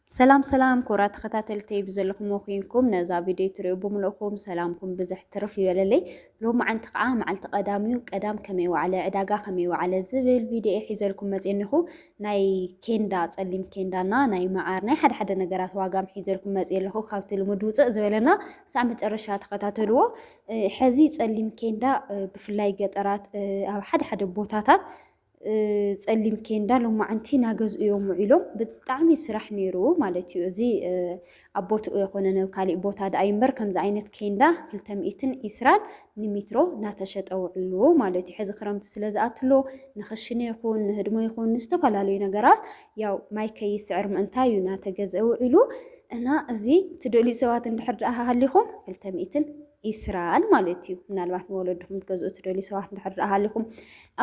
ሰላም ሰላም ክቡራት ተኸታተልተይ ብዘለኹምዎ ኮንኩም ነዛ ቪድዮ ትሪኡ ብምልእኹም ሰላምኩም ብዝሕ ትርፍ ይበለለይ። ሎሚ መዓንቲ ከዓ መዓልቲ ቀዳም እዩ። ቀዳም ከመይ ዋዕለ ዕዳጋ ከመይ ዋዕለ ዝብል ቪድዮ ሒዘልኩም መፅኒኹ ናይ ኬንዳ ፀሊም ኬንዳና ናይ መዓር ናይ ሓደ ሓደ ነገራት ዋጋም ሒዘልኩም መፅ ኣለኹ። ካብቲ ልሙድ ውፅእ ዝበለና ክሳዕ መጨረሻ ተኸታተልዎ። ሕዚ ፀሊም ኬንዳ ብፍላይ ገጠራት ኣብ ሓደ ሓደ ቦታታት ፀሊም ኬንዳ ሎማዓንቲ ናገዝኡ እዮም ውዒሎም ብጣዕሚ ስራሕ ነይሩ ማለት እዩ። እዚ ኣብ ቦትኡ የኮነን ኣብ ካሊእ ቦታ ድኣ እዩ እምበር ከምዚ ዓይነት ኬንዳ ክልተ ሚእትን ዒስራን ንሚትሮ ናተሸጠ ውዒሉ ማለት እዩ። ሕዚ ክረምቲ ስለ ዝኣትሎ ንክሽነ ይኹን ንህድሞ ይኹን ንዝተፈላለዩ ነገራት ያው ማይ ከይስዕር ምእንታይ እዩ ናተገዝአ ውዒሉ እና እዚ ትደልዩ ሰባት እንድሕር ድኣ ሃሊኹም ክልተ ሚእትን ኢስራል ማለት እዩ። ምናልባት ንወለድኹም ትገዝኡ ትደልዩ ሰባት እንድሕር ደኣ ሃሊኹም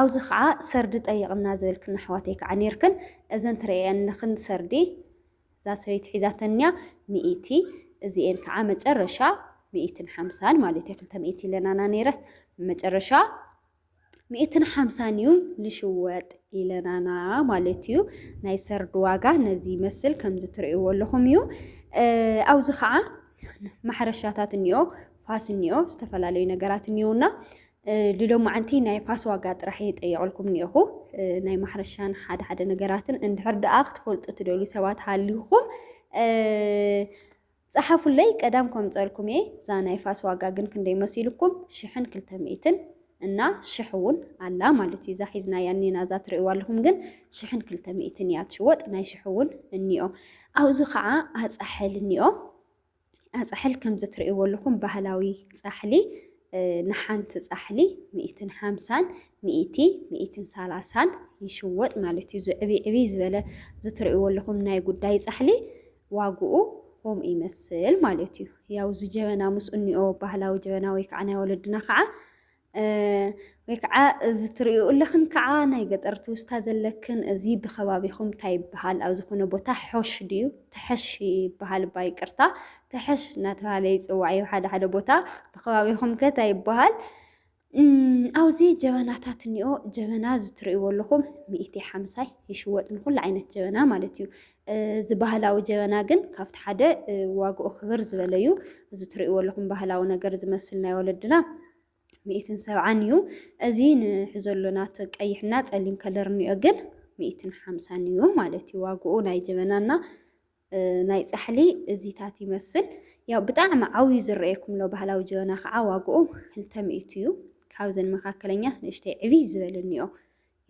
ኣብዚ ከዓ ሰርዲ ጠይቕና ዝበልክን ኣሕዋተይ ከዓ ነይርክን እዘን ትርእየንክን ሰርዲ እዛ ሰበይቲ ሒዛተን እኒኣ ሚእቲ እዚኤን ከዓ መጨረሻ ሚእትን ሓምሳን ማለት እዩ ክልተ ሚእቲ ኢለናና ነይረት መጨረሻ ሚእትን ሓምሳን እዩ ልሽወጥ ኢለናና ማለት እዩ ናይ ሰርዲ ዋጋ ነዚ ይመስል ከምዚ ትርእይዎ ኣለኹም እዩ ኣብዚ ከዓ ማሕረሻታት እኒኦ ፋስ እኒኦ ዝተፈላለዩ ነገራት እኒኦና ልሎማዓንቲ ናይ ፋስ ዋጋ ጥራሕ የጠየቕልኩም እኒኦኹ ናይ ማሕረሻን ሓደ ሓደ ነገራትን እንድሕር ደኣ ክትፈልጡ ትደልዩ ሰባት ሃሊኹም ጸሓፉለይ ቀዳም ኮምጸልኩም እየ እዛ ናይ ፋስ ዋጋ ግን ክንደይ መሲሉኩም ሽሕን ክልተ ሚእትን እና ሽሕ ውን ኣላ ማለት እዩ እዛ ሒዝናያ እኒና እዛ ትርእይዋ ኣለኹም ግን ሽሕን ክልተ ሚእትን እያ ትሽወጥ ናይ ሽሕ ውን እኒኦ ኣብዚ ከዓ ኣጻሕል እኒኦ ኣጻሕል ከምዚ ትርእይዎ ኣለኹም ባህላዊ ጻሕሊ ንሓንቲ ጻሕሊ ሚእትን ሓምሳን ሚእቲ ሚእትን ሳላሳን ይሽወጥ ማለት እዩ ዝዕብይ ዕብይ ዝበለ ዝትርእይዎ ኣለኹም ናይ ጉዳይ ጻሕሊ ዋግኡ ከምኡ ይመስል ማለት እዩ። ያው እዚ ጀበና ምስ እኒኦ ባህላዊ ጀበና ወይ ከዓ ናይ ወለድና ከዓ ወይ ከዓ እዚ ትርእዩ ኣለኽን ከዓ ናይ ገጠር ትውስታ ዘለክን እዚ ብከባቢኹም እንታይ ይበሃል ኣብ ዝኾነ ቦታ ሖሽ ድዩ ተሐሽ ይበሃል እባ ይቅርታ ተሐሽ እናተባሃለ ይፅዋዕ እዩ ሓደ ሓደ ቦታ ብከባቢኹም ከ እንታይ ይበሃል ኣብዚ ጀበናታት እኒኦ ጀበና ዝትርእይዎ ኣለኹም ሚእቲ ሓምሳይ ይሽወጥ ንኩሉ ዓይነት ጀበና ማለት እዩ። እዚ ባህላዊ ጀበና ግን ካብቲ ሓደ ዋግኡ ክብር ዝበለ እዩ። እዚ ትርእይዎ ኣለኹም ባህላዊ ነገር ዝመስል ናይ ወለድና ሚእትን ሰብዓን እዩ። እዚ ንሕዞ ኣሎና እቲ ቀይሕና ጸሊም ከለር እኒኦ ግን ሚእትን ሓምሳን እዩ ማለት እዩ ዋግኡ ናይ ጀበናና ናይ ጻሕሊ እዚታት ይመስል። ያው ብጣዕሚ ዓውዩ ዝረኣየኩም ኣሎ ባህላዊ ጀበና ከዓ ዋግኡ ክልተ ሚእቲ እዩ። ካብዘን መካከለኛስ ንእሽተይ ዕብይ ዝበለ እኒኦ።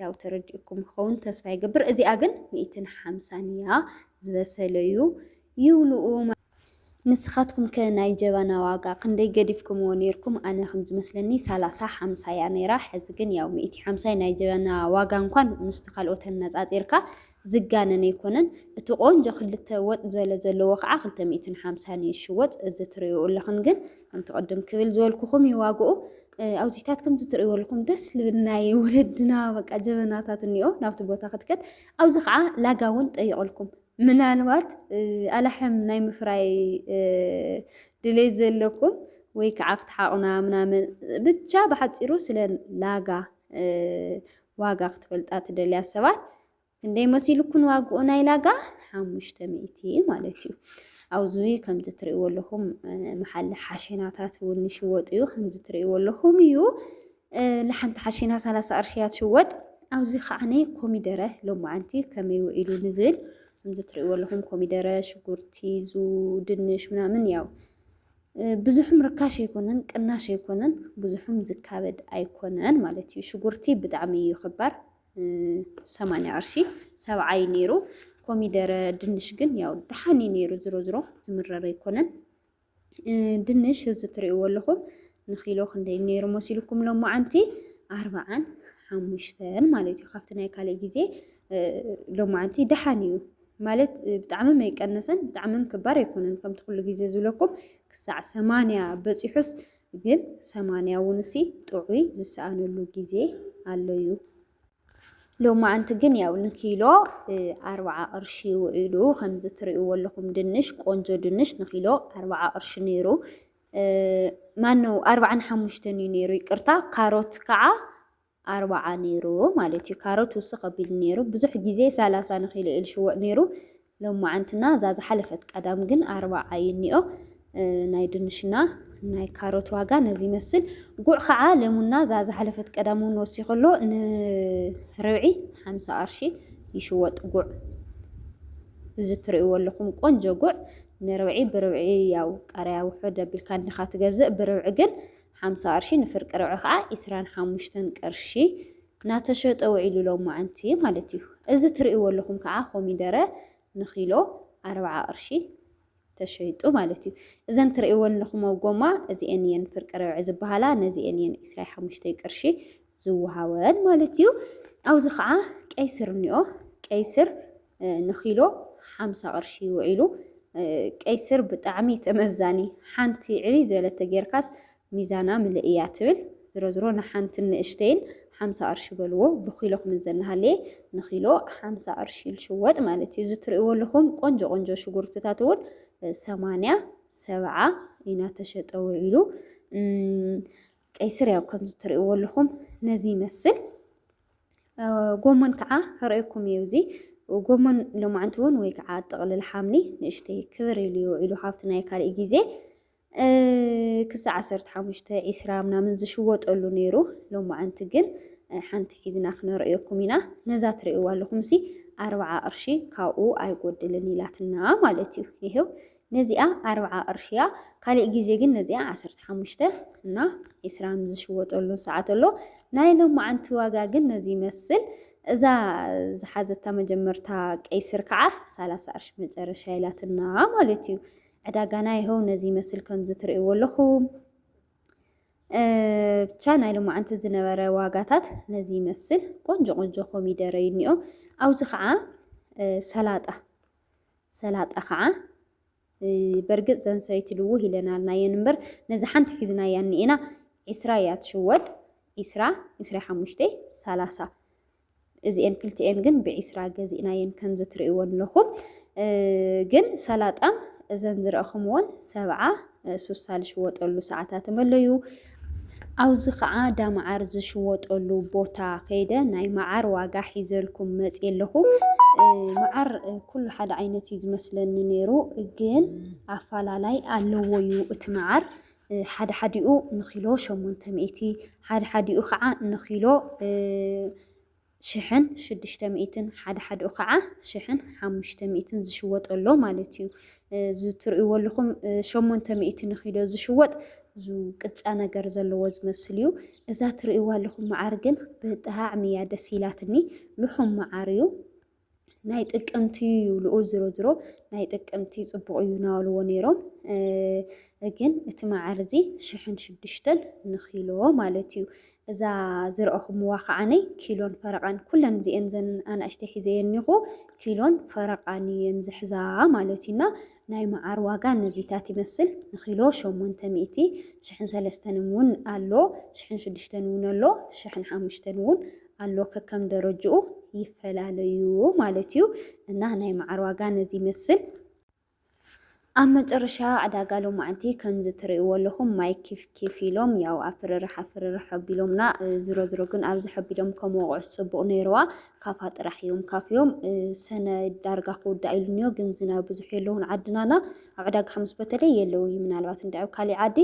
ያው ተረዲኡኩም ክኸውን ተስፋ ይገብር። እዚኣ ግን ሚእትን ሓምሳን እያ ዝበሰለ እዩ ይብልኡ። ንስኻትኩም ከ ናይ ጀበና ዋጋ ክንደይ ገዲፍኩምዎ ኔርኩም? ኣነ ከም ዝመስለኒ ሰላሳ ሓምሳ እያ ነይራ። ሕዚ ግን ያው ሚእቲ ሓምሳይ ናይ ጀበና ዋጋ እንኳን ምስቲ ካልኦት ኣነጻጺርካ ዝጋነን ኣይኮነን እቲ ቆንጆ ክልተ ወጥ ዝበለ ዘለዎ ከዓ ክልተ ሚእትን ሓምሳን እዩ ዝሽወጥ እዚ ትሪኡ ኣለኽን ግን ከምቲ ቅድም ክብል ዝበልኩኹም እዩ ዋግኡ ኣብዚታት ከምዚ ትሪእዎ ኣለኹም ደስ ልብል ናይ ወለድና በቃ ጀበናታት እኒኦ ናብቲ ቦታ ክትከድ ኣብዚ ከዓ ላጋ እውን ጠይቕልኩም ምናልባት ኣላሕም ናይ ምፍራይ ድሌት ዘለኩም ወይ ከዓ ክትሓቑና ምናምን ብቻ ብሓፂሩ ስለ ላጋ ዋጋ ክትፈልጣ ትደልያ ሰባት ክንደይ መሲልኩን ዋግኡ ናይ ላጋ ሓሙሽተ ሚእቲ ማለት እዩ ኣብዚ ከምዚ ትርእይዎ ኣለኹም መሓሊ ሓሽናታት እውን ይሽወጥ እዩ ከምዚ ትርእይዎ ኣለኹም እዩ ንሓንቲ ሓሽና ሰላሳ ቅርሺ እያ ትሽወጥ ኣብዚ ከዓ ናይ ኮሚደረ ሎማዓንቲ ከመይ ውዒሉ ንዝብል ከምዚ ትርእይዎ ኣለኹም ኮሚደረ ሽጉርቲ ዙ ድንሽ ምናምን ያው ብዙሕም ርካሽ ኣይኮነን ቅናሽ ኣይኮነን ብዙሕም ዝካበድ ኣይኮነን ማለት እዩ። ሽጉርቲ ብጣዕሚ እዩ ክባር ሰማንያ ቅርሺ ሰብዓ እዩ ነይሩ። ኮሚደረ ድንሽ ግን ያው ደሓን እዩ ነይሩ ዝሮ ዝሮ ዝምረረ ኣይኮነን። ድንሽ እዚ ትሪእዎ ኣለኹም ንኪሎ ክንደይ ነይሩ መሲልኩም ሎማዓንቲ ኣርባዓን ሓሙሽተን ማለት እዩ። ካብቲ ናይ ካልእ ግዜ ሎማዓንቲ ደሓን እዩ ማለት ብጣዕምም ኣይቀነሰን ብጣዕምም ክባር ኣይኮነን ከምቲ ኩሉ ግዜ ዝብለኩም ክሳዕ ሰማንያ በጺሑስ ግን ሰማንያ እውን እሲ ጥዑይ ዝሰኣነሉ ግዜ ኣሎ እዩ። ሎማዓንቲ ግን ያው ንኪሎ ኣርብዓ ቅርሺ ውዒሉ ከምዚ ትርእይዎ ኣለኹም ድንሽ ቆንጆ ድንሽ ንኪሎ ኣርብዓ ቅርሺ ነይሩ ማነው ኣርብዓን ሓሙሽተን እዩ ነይሩ ይቅርታ ካሮት ከዓ ኣርባዓ ነይሩ ማለት እዩ ካሮት ውስኽ ኣቢሉ ነይሩ ብዙሕ ግዜ ሰላሳ ንኪሎ ኢዩ ልሽወጥ ነይሩ ሎማዓንትና እዛ ዝሓለፈት ቀዳም ግን ኣርባዓ እዩ እኒኦ ናይ ድንሽና ናይ ካሮት ዋጋ ነዚ ይመስል ጉዕ ከዓ ለሙና እዛ ዝሓለፈት ቀዳም እውን ወሲኹ ኣሎ ንርብዒ ሓምሳ ቅርሺ ይሽወጥ ጉዕ እዚ ትርእይዎ ኣለኹም ቆንጆ ጉዕ ንርብዒ ብርብዒ ያው ቃሪያ ውሑድ ኣቢልካ እንዲኻ ትገዝእ ብርብዒ ግን ሓምሳ ቅርሺ ንፍርቂ ርብዒ ከዓ ዕስራን ሓሙሽተን ቅርሺ ናተሸጠ ውዒሉ ሎማዕንቲ ማለት እዩ። እዚ ትርእይዎ ኣለኹም ከዓ ኮሚደረ ንኪሎ ኣርብዓ ቅርሺ ተሸይጡ ማለት እዩ። እዘን ትርእይወን ኣለኹሞ ጎማ እዚኤን እየን ፍርቂ ርብዒ ዝበሃላ ነዚኤን እየን ዕስራይ ሓሙሽተይ ቅርሺ ዝወሃበን ማለት እዩ። ኣብዚ ከዓ ቀይስር እኒኦ ቀይስር ንኪሎ ሓምሳ ቅርሺ እዩ ውዒሉ። ቀይ ስር ብጣዕሚ ተመዛኒ ሓንቲ ዕብይ ዝበለት ተጌርካስ ሚዛና ምልእ እያ ትብል። ዝሮ ዝሮ ንሓንትን ንእሽተይን ሓምሳ ቅርሺ በልዎ ብኪሎ ክምዘን እናሃለየ ንኪሎ ሓምሳ ቅርሺ ዝሽወጥ ማለት እዩ። እዚ ትርእይዎ ኣለኹም ቆንጆ ቆንጆ ሽጉርትታት እውን ሰማንያ ሰብዓ እናተሸጠ ውዒሉ። ቀይ ስር ያው ከምዚ ትርእይዎ ኣለኹም ነዚ ይመስል። ጎመን ከዓ ከርእየኩም እዩ እዚ ጎመን ሎማዕንቲ እውን ወይ ከዓ ጥቕልል ሓምሊ ንእሽተይ ክብር ኢሉ እዩ ኢሉ ካብቲ ናይ ካልእ ግዜ ክሳዕ ዓሰርተ ሓሙሽተ ዒስራ ምናምን ዝሽወጠሉ ነይሩ ሎማዕንቲ ግን ሓንቲ ሒዝና ክነርእየኩም ኢና ነዛ ትርእይዋ ኣለኹም ሲ ኣርብዓ ቅርሺ ካብኡ ኣይጎድልን ኢላትና ማለት እዩ ይህው ነዚኣ ኣርብዓ ቅርሺ እያ ካሊእ ግዜ ግን ነዚኣ ዓሰርተ ሓሙሽተ እና ዒስራን ዝሽወጠሉ ሰዓት ኣሎ ናይ ሎማዓንቲ ዋጋ ግን ነዚ ይመስል እዛ ዝሓዘታ መጀመርታ ቀይስር ከዓ ሰላሳ ቅርሺ መጨረሻ ኢላትና ማለት እዩ ዕዳጋና ይኸው ነዚ ይመስል ከምዚ ትርእይዎ ኣለኹም ብቻ ናይ ሎማዓንቲ ዝነበረ ዋጋታት ነዚ ይመስል ቆንጆ ቆንጆ ኮሚደረ እዩ እኒኦ ኣብዚ ከዓ ሰላጣ ሰላጣ ኸዓ በርግፅ ዘን ሰበይቲ ልውህ ኢለናልና እየን እምበር ነዚ ሓንቲ ሒዝናያ እኒኤና ዒስራ እያ ትሽወጥ ዒስራ ዒስራ ሓሙሽተ ሰላሳ እዚኤን ክልቲኤን ግን ብዒስራ ገዚእናየን ከምዚ ትርእይወን ኣለኹም ግን ሰላጣ እዘን ዝረእኹምዎን ሰብዓ ሱሳ ዝሽወጠሉ ሰዓታት መለዩ። ኣብዙ ከዓ ዳመዓር ዝሽወጠሉ ቦታ ከይደ ናይ መዓር ዋጋ ሒዘልኩም መፅየ ኣለኹ። መዓር ኩሉ ሓደ ዓይነት እዩ ዝመስለኒ ነይሩ፣ ግን ኣፈላላይ ኣለዎ እዩ እቲ መዓር ሓደ ሓዲኡ ንኪሎ ሸሞንተ ሚእቲ ሓደ ሓዲኡ ከዓ ንኪሎ ሽሕን ሽዱሽተ ሚእትን ሓደ ሓድኡ ካዓ ሽሕን ሓሙሽተ ሚእትን ዝሽወጥ ኣሎ ማለት እዩ። እዚ ትርእይዎ ኣለኹም ሸሞንተ ሚእቲ ንኪሎ ዝሽወጥ እዚ ቅጫ ነገር ዘለዎ ዝመስል እዩ። እዛ ትርእይዋ ኣለኹም መዓር ግን ብጣዕሚ እያ ደስ ኢላትኒ ልሑም መዓር እዩ። ናይ ጥቅምቲ ይብሉ ዝሮ ዝሮ ናይ ጥቅምቲ ፅቡቅ እዩ ናበልዎ ነይሮም ግን እቲ መዓር እዚ ሽሕን ሽዱሽተን ንኪሎ ማለት እዩ እዛ ዝረእኹምዋ ከዓነይ ኪሎን ፈረቃን ኩለን እዚኤን ዘን ኣናእሽተይ ሒዘየን እኒኹ ኪሎን ፈረቃን እየን ዝሕዛ ማለት እዩና ናይ መዓር ዋጋ ነዚታት ይመስል ንኪሎ ሸሞንተ ሚእቲ ሽሕን ሰለስተን እውን ኣሎ ሽሕን ሽዱሽተን እውን ኣሎ ሽሕን ሓሙሽተን እውን ኣሎ ከከም ደረጅኡ ይፈላለ እዩ ማለት እዩ እና ናይ መዓር ዋጋ ነዚ ይመስል። ኣብ መጨረሻ ዕዳጋ ሎማዕንቲ ከምዚ ትርእይዎ ኣለኹም ማይ ኪፍ ኪፍ ኢሎም ያው ኣፍርርሕ ኣፍርርሕ ሐቢሎምና ዝሮ ዝሮ ግን ኣብዚ ሐቢሎም ከም ወቕዑስ ጽቡቕ ነይርዋ ካፋ ጥራሕ እዮም ካፍዮም ሰነ ዳርጋ ክውዳእ ኢሉ እኒኦ ግን ዝናብ ብዙሕ የለውን ዓድናና ኣብ ዕዳጋ ሓሙስ በተለይ የለው እዩ ምናልባት እንዳ ኣብ ካሊእ ዓዲ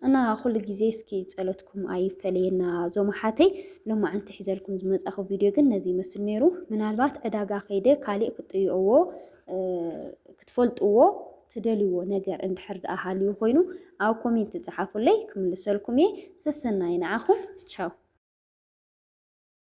እና ኩሉ ግዜ እስኪ ጸሎትኩም ኣይፈለየና ዞም ኣሓተይ ሎማዕንቲ ሒዘልኩም ዝመጻኹ ቪድዮ ግን ነዚ ይመስል ነይሩ ምናልባት ዕዳጋ ከይደ ካሊእ ክጥይኦዎ ክትፈልጥዎ ትደልይዎ ነገር እንድሕር ደኣ ሃልዩ ኮይኑ ኣብ ኮሜንት ጸሓፉለይ ክምልሰልኩም እየ። ሰሰናይ ንዓኹም ቻው።